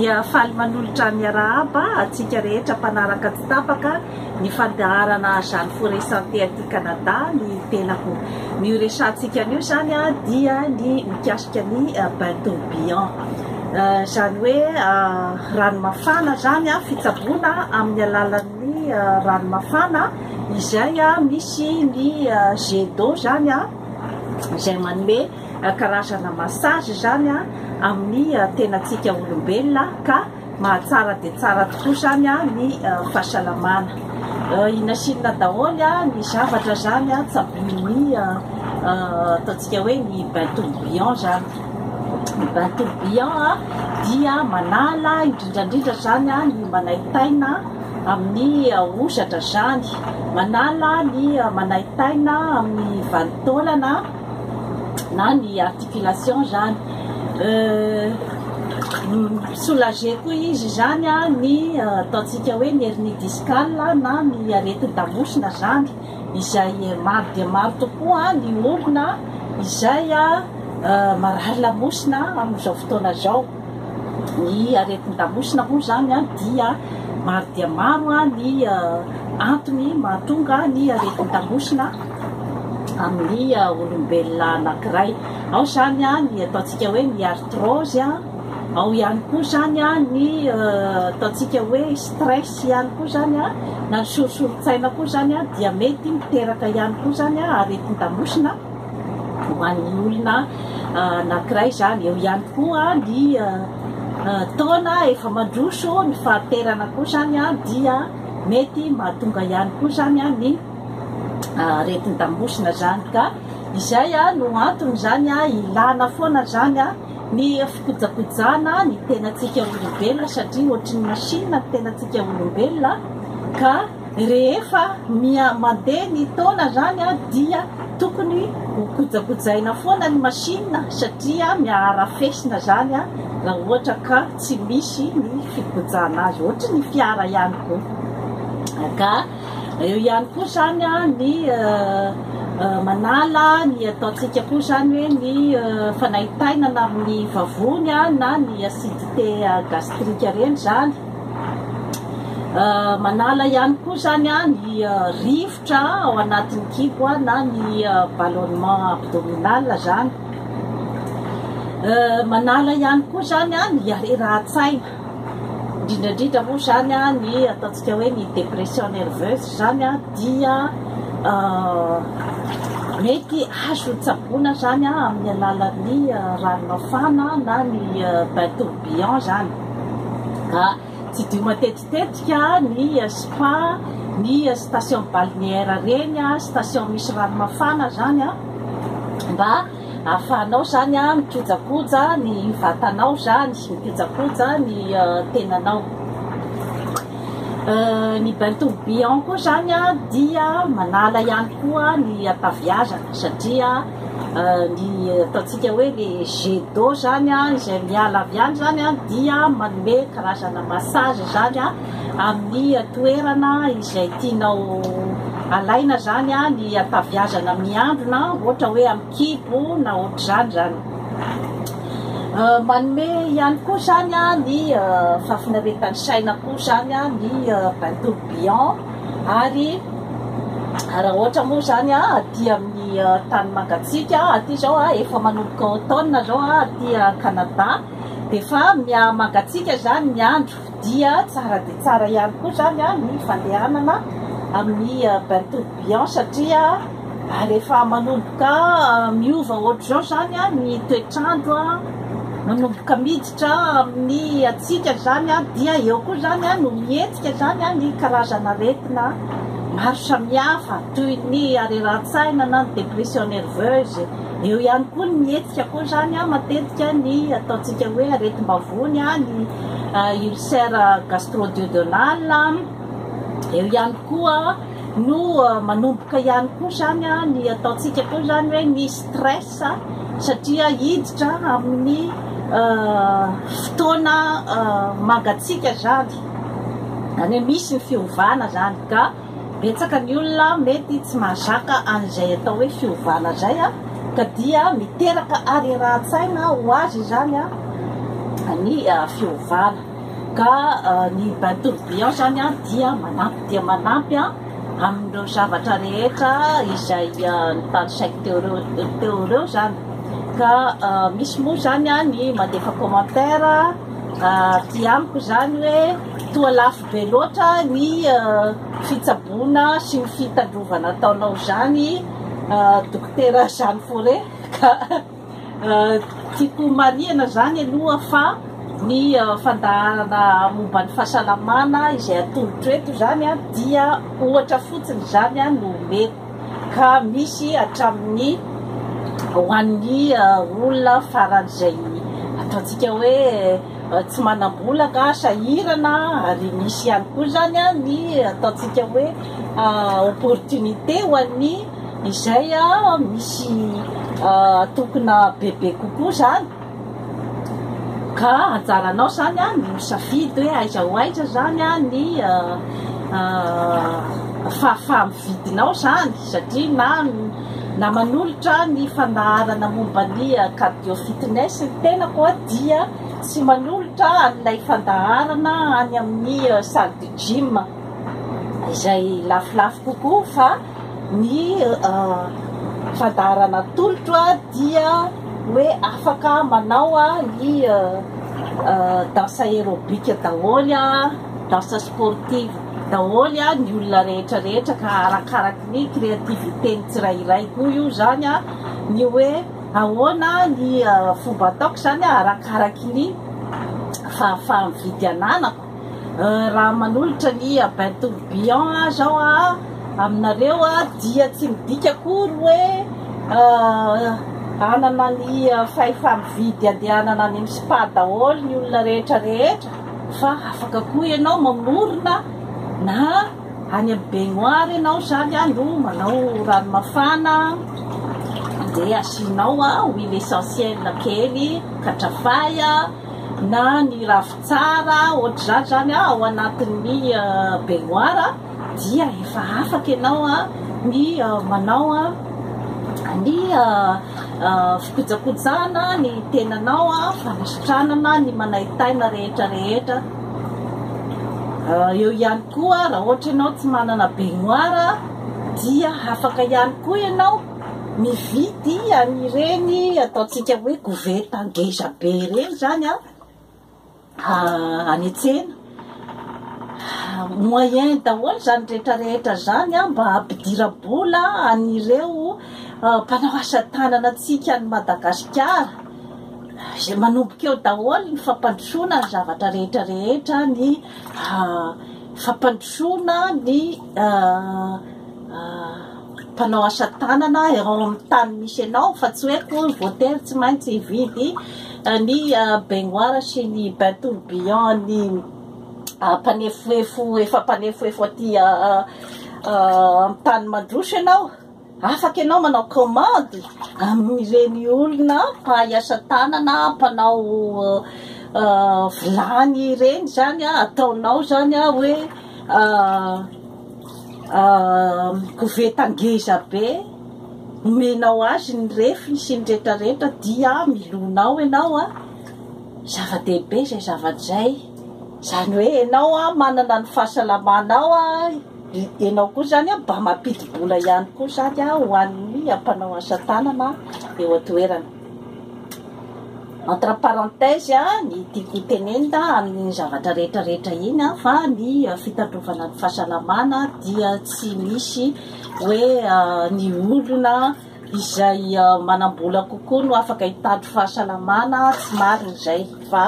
dia faly manolotra miarahaba antsika rehetra mpanaraka tsy tapaka ny fandaharana Jeanne Foret Santé aty Canada ny tenako. Ny ho resahantsika anio izany dia ny mikasika ny bain tourbillon. Izany hoe rano mafana izany, fitsaboana amin'ny alalan'ny rano mafana izay misy ny jet d'eau izany izay manome karazana massage izany amin'ny tenantsika olombelona ka mahatsara dia tsara tokoa izany ny fahasalamana. I Nasina daholo ny zavatra izany tsaboin'ny ataontsika hoe ny bain tourbillon izany. Ny bain tourbillon dia manala indrindra indrindra izany ny manaintaina amin'ny hosatra izany, manala ny manaintaina amin'ny vanin-taolana. na ny articulation zany soulager koa izy zany ny ataontsika hoe ny hernie discale na ny aretin-damosina zany izay maro dia maro tokoa ny olona izay marary lamosina amin'izao fotoana zao ny aretin-damosina moa zany dia maro dia maro ny antony mahatonga ny aretin-damosina amin'ny olombelona anankiray. Ao izany ny ataontsika hoe ny arthrose, ao ihany koa izany ny ataontsika hoe stress ihany koa izany na ny sorisorin-tsaina koa izany dia mety miteraka ihany koa izany aretin-damosina ho an'ny olona anankiray izany. Eo ihany koa ny taona efa mandroso ny fahaterana koa izany dia mety mahatonga ihany koa izany ny aretin damosina izany ka izay no antony izany ilana foana izany ny fikojakojana ny tenantsika olombelona satria ohatry ny machine ny tenantsika olombelona ka rehefa mia mandeha ny taona izany dia tokony hokojakojaina foana ny machine satria miaharafesina izany raha ohatra ka tsy misy ny fikojana azy ohatry ny fiara ihany koa ka Eo ihany koa izany ny manala ny ataontsika koa izany hoe ny fanaintainana amin'ny vavony na ny acidité gastrique ireny izany. Manala ihany koa izany ny rivotra ao anatin'ny kibo na ny ballonnement abdominal izany. Manala ihany koa izany ny harerahan-tsaina. Indrindra indrindra moa izany ny ataontsika hoe ny dépression nerveuse izany dia mety azo tsaboina izany amin'ny alalan'ny rano mafana na ny bain tourbillon izany. Tsidiho matetitetika ny spa, ny station balnéaire ireny, station misy rano mafana izany mba ahafahanao izany mikojakoja ny vatanao izany, mikojakoja ny tenanao. Ny bain tourbillon koa izany dia manala ihany koa ny hataviazana satria ny ataontsika hoe le jet d'eau izany izay miala avy any izany dia manome karazana massage izany. amin'ny toerana izay tianao alaina izany ny hataviazana miandrona ohatra hoe amin'ny kibo na ohatr'izany izany. Manome ihany koa izany ny fahafinaretan'ny saina koa izany ny bain tourbillon ary raha ohatra moa izany aty amin'ny tany mangatsika aty izao efa manomboka automne izao aty Canada dia efa miha mangatsika izany ny andro Dia tsara dia tsara ihany koa izany ny fandehanana amin'ny bain tourbillon satria rehefa manomboka miova ohatr'izao izany ny toetr'andro, manomboka miditra amin'ny hatsiaka izany dia eo koa izany no mihetsika izany ny karazan'aretina maro samihafa toy ny harerahantsaina na ny dépression nerveuse. Eo ihany koa ny mihetsika koa izany matetika ny ataontsika hoe aretim-bavony, ny ulcère gastro-duodenale. Eo ihany koa no manomboka ihany koa izany ny ataontsika koa izany hoe ny stress satria hiditra amin'ny fotoana mangatsiaka izany. Izany hoe misy ny fiovana izany ka. Betsaka ny olona mety tsy mahazaka an'izay atao hoe fiovana izay ka dia miteraka harerahan-tsaina ho azy izany ny fiovana. Ka ny bain tourbillon izany dia manampy dia manampy amin'ireo zavatra rehetra izay notanisaiko teo ireo teo ireo izany. Ka misy moa izany ny mandefa commentaire aty amiko izany hoe toa lafo. Be loatra ny fitsaboana sy ny fitandrovana ataonao izany Dokotera Jeanne Fauré ka tiako homarihana izany aloha fa ny fandaharana momba ny fahasalamana izay atolotro eto izany dia ohatra fotsiny izany no omeko ka misy hatramin'ny ho an'ny olona faran'izay ataontsika hoe tsy manam-bola ka sahirana ary misy ihany koa izany ny ataontsika hoe opportunité ho an'ny izay misy tokona bebe kokoa izany ka anjaranao izany ny misafidy hoe aiza ho aiza izany ny fahafahamividinao izany satria na na manolotra ny fandaharana momba ny cardio fitness ny tenako a dia tsy manolotra an'ilay fandaharana any amin'ny salle de gym izay lafolafo kokoa fa ny fandaharana atolotro a dia hoe afaka manao a ny danse aérobique daholo a danse sportive daholo a ny olona rehetra rehetra ka arakaraky ny créativité ny tsirairay koa io zany a ny hoe ahoana ny fomba ataoko zany a arakaraky ny fahafaham vidy ananako raha manolotra ny bain tourbillon a zao a aminareo a dia tsy midika akory hoe hanana ny fahefam vidy andehanana any am spa daholo ny olona rehetra rehetra Fa afaka koa ianao mamorona na any amin'ny baignoire ianao zany a no manao rano mafana dia asianao a huile essentielle kely katrafay a na ny ravintsara ohatr'izany zany a ao anatin'ny baignoire dia efa afaka ianao ny manao ny fikojakojana ny tenanao, fanasitranana ny manaitaina rehetra rehetra. Eo ihany koa raha ohatra ianao tsy manana baignoire dia afaka ihany koa ianao mividy an'ireny ataontsika hoe koveta ngezabe ireny izany. ka any an-tsena moyen daholo izany rehetra rehetra izany a mba hampidira-bola an'ireo mpanao asa tanana antsika any Madagasikara izay manomboka eo daholo ny fampandrosoana ny zavatra rehetra rehetra ny fampandrosoana ny mpanao asa tanana eo amin'ny tany misy anao fa tsy hoe akory voatery tsy maintsy hividy eh, ny eh, baignoire sy ny bain tourbillon ny eh, mpanefoefo efa mpanefoefo aty amin'ny tany mandroso ianao afaka ianao manao commande amin'ireny olona mpahay asa tanana mpanao vilany ireny zany ataonao zany a hoe koveta ngeza be omenao azy ny refiny sy ny rehetra rehetra dia milona ao ianao a zava-dehibe izay zava-izay izany hoe ianao a manana ny fahasalamanao a ianao koa izany a mba mampidi-bola ihany koa izany a ho an'ny mpanao asa tanana eo an-toerana Entre parenthèse, ny tiako ho tenenina amin'iny zavatra rehetra rehetra iny fa ny fitandrovana ny fahasalamana dia tsy misy hoe ny olona izay manam-bola kokoa no afaka hitandro fahasalamana, tsy marina izay fa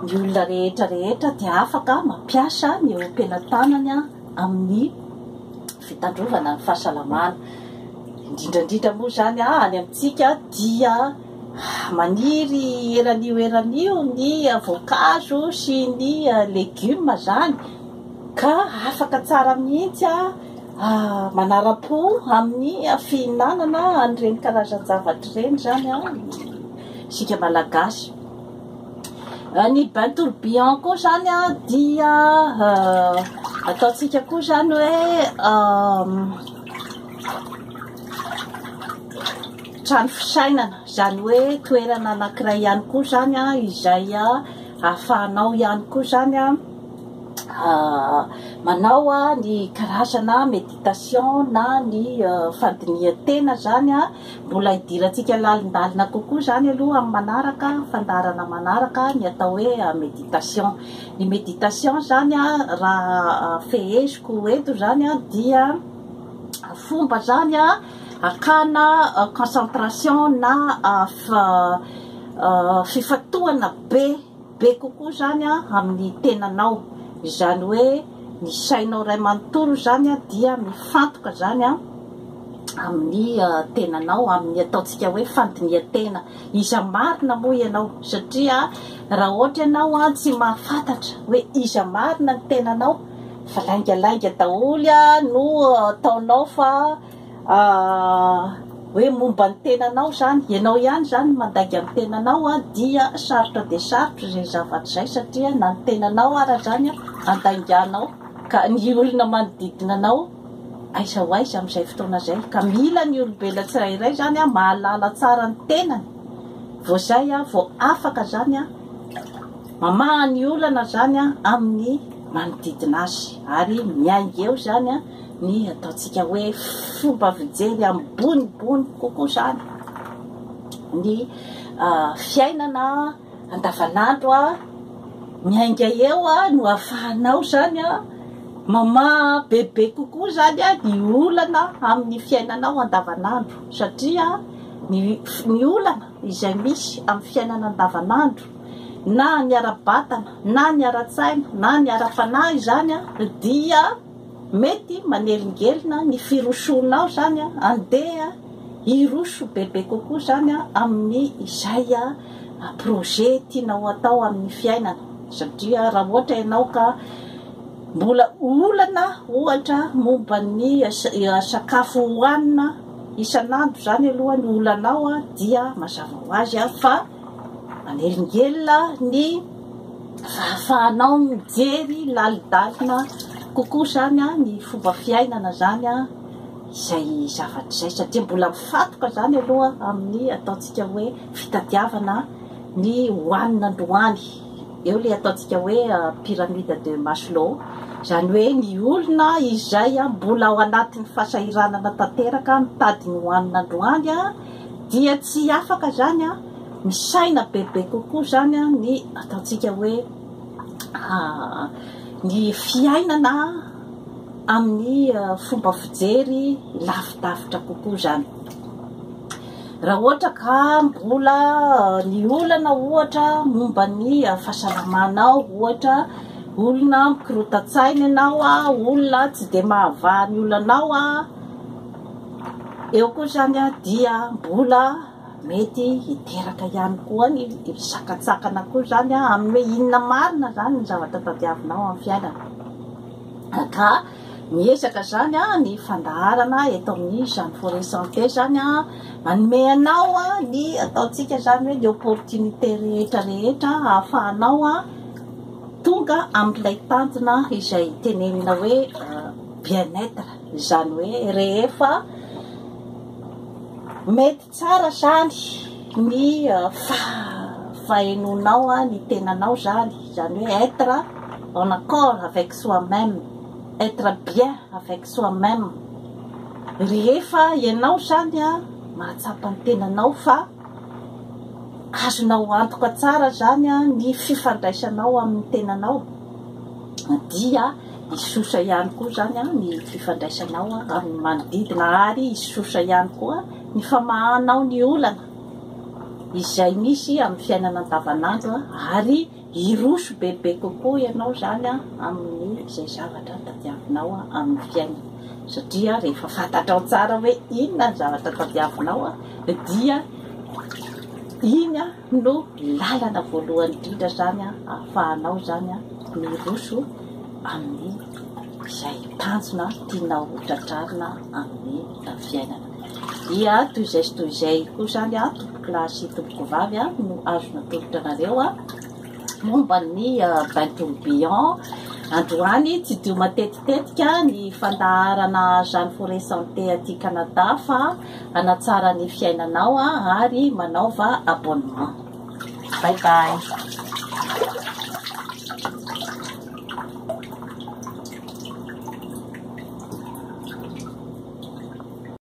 ny olona rehetra rehetra dia afaka mampiasa ny ompiana tanany amin'ny. fitandrovana ny fahasalamana, indrindra indrindra moa izany any amintsika dia maniry eran'io eran'io ny voankazo sy ny legioma izany ka afaka tsara mihitsy manara-po amin'ny fihinanana an'ireny karazan-javatra ireny izany isika Malagasy. Eh, ny bain tourbillon koa zany a dia eh, ataontsika koa zany hoe ehm, trano fisainana zany hoe toerana anankiray ihany koa zany a izay a ahafahanao ihany koa zany a eh, manao a ny karazana méditation na ny fandinihan-tena zany a Mbola hidirantsika lalindalina kokoa izany aloha amin'ny manaraka, fandaharana manaraka, ny atao hoe méditation. Ny méditation izany raha feheziko eto izany dia fomba izany hakana concentration na fifantohana be Be kokoa izany amin'ny tenanao, izany hoe ny sainao iray manontolo izany dia mifantoka izany amin'ny tenanao, amin'ny ataontsika hoe fandinihan-tena. Iza marina moa ianao? Satria raha ohatra ianao tsy mahafantatra hoe iza marina ny tenanao fa laingalainga daholo no ataonao fa. hoe momba ny tenanao zany, ianao ihany zany mandainga ny tenanao a, dia sarotra dia sarotra izay zavatra izay satria na ny tenanao ara zany a andainganao ka ny olona manodidina anao aiza ho aiza amin'izay fotoana izay ka mila ny olombelona tsirairay zany a mahalala tsara ny tenany vao zay a vao afaka zany a mamaha ny olana zany a amin'ny manodidina azy ary miainga eo zany a ny ataontsika hoe fomba fijery ambonimbony kokoa izany ny fiainana andavanandro a miainga eo a no afahanao izany a mamaha bebe kokoa izany a ny olana amin'ny fiainanao andavanandro satria ny olana izay misy amin'ny fiainana andavanandro na ny ara-batana na ny ara-tsaina na ny ara-panahy izany a dia Mety manelingelina ny firosoanao izany an, andeha hiroso bebe kokoa izany an amin'ny izay projet tianao hatao amin'ny fiainana satria raha ohatra ianao ka mbola olana ohatra momba ny sakafo hohanina isan'andro izany aloha no olanao dia mazava ho azy fa manelingelina ny ahafahanao mijery lalindalina kokoa izany ny fomba fiainana izany izay zavatra izay satria mbola mifantoka izany aloha amin'ny ataontsika hoe fitadiavana ny hohanina androany eo ilay ataontsika hoe euh, pyramide de Maslow izany hoe ny olona izay mbola ao anatin'ny fahasahiranana tanteraka mitady ny hohanina androany dia tsy afaka izany an misaina bebe kokoa izany ny ataontsika hoe ny fiainana amin'ny fomba fijery lavidavitra kokoa izany. Raha ohatra ka mbola ny olana ohatra momba ny fahasalamanao ohatra, olona mikorota-tsaina ianao, olona tsy dia mahavaha ny olanao, eo koa izany dia mbola Mety hiteraka ihany koa ny fisakantsakana koa izany amin'ny hoe inona marina izany ny zavatra tadiavinao amin'ny fiainana. Ka miezaka izany ny fandaharana eto amin'ny Jeune Forêt Santé izany manome anao ny ataontsika izany hoe ny opportunité rehetra rehetra ahafahanao tonga amin'ilay tanjona izay tenenina hoe bien-être izany hoe rehefa Mety tsara zany ny fahenoanao ny tenanao zany, zany hoe être en accord avec soi meme, être bien avec soi meme, rehefa ianao zany mahatsapa ny tenanao fa. Azonao antoka tsara izany ny fifandraisanao amin'ny tenanao, dia hisosa ihany koa izany ny fifandraisanao amin'ny manodidina, ary hisosa ihany koa ny famahanao ny olana izay misy amin'ny fiainana andavanandro, ary. Hiroso bebe kokoa ianao izany amin'ny izay zavatra tadiavinao amin'ny fiainana, satria rehefa fantatrao tsara hoe inona ny zavatra tadiavinao dia iny no lalana voalohany indrindra izany ahafahanao izany miroso amin'ny izay tanjona tianao ho tratrarina amin'ny fiainana. Ia toy izay sy toy izay koa izany an, tompoko lahy sy tompoko vavy an, no azo natolotra anareo an, momba ny bain tourbillon. Androany tsy dio matetitetika ny fandaharana Jeanne Forest Santé aty Canada fa hanatsara ny fiainanao an, ary manaova abonnement. Bye bye.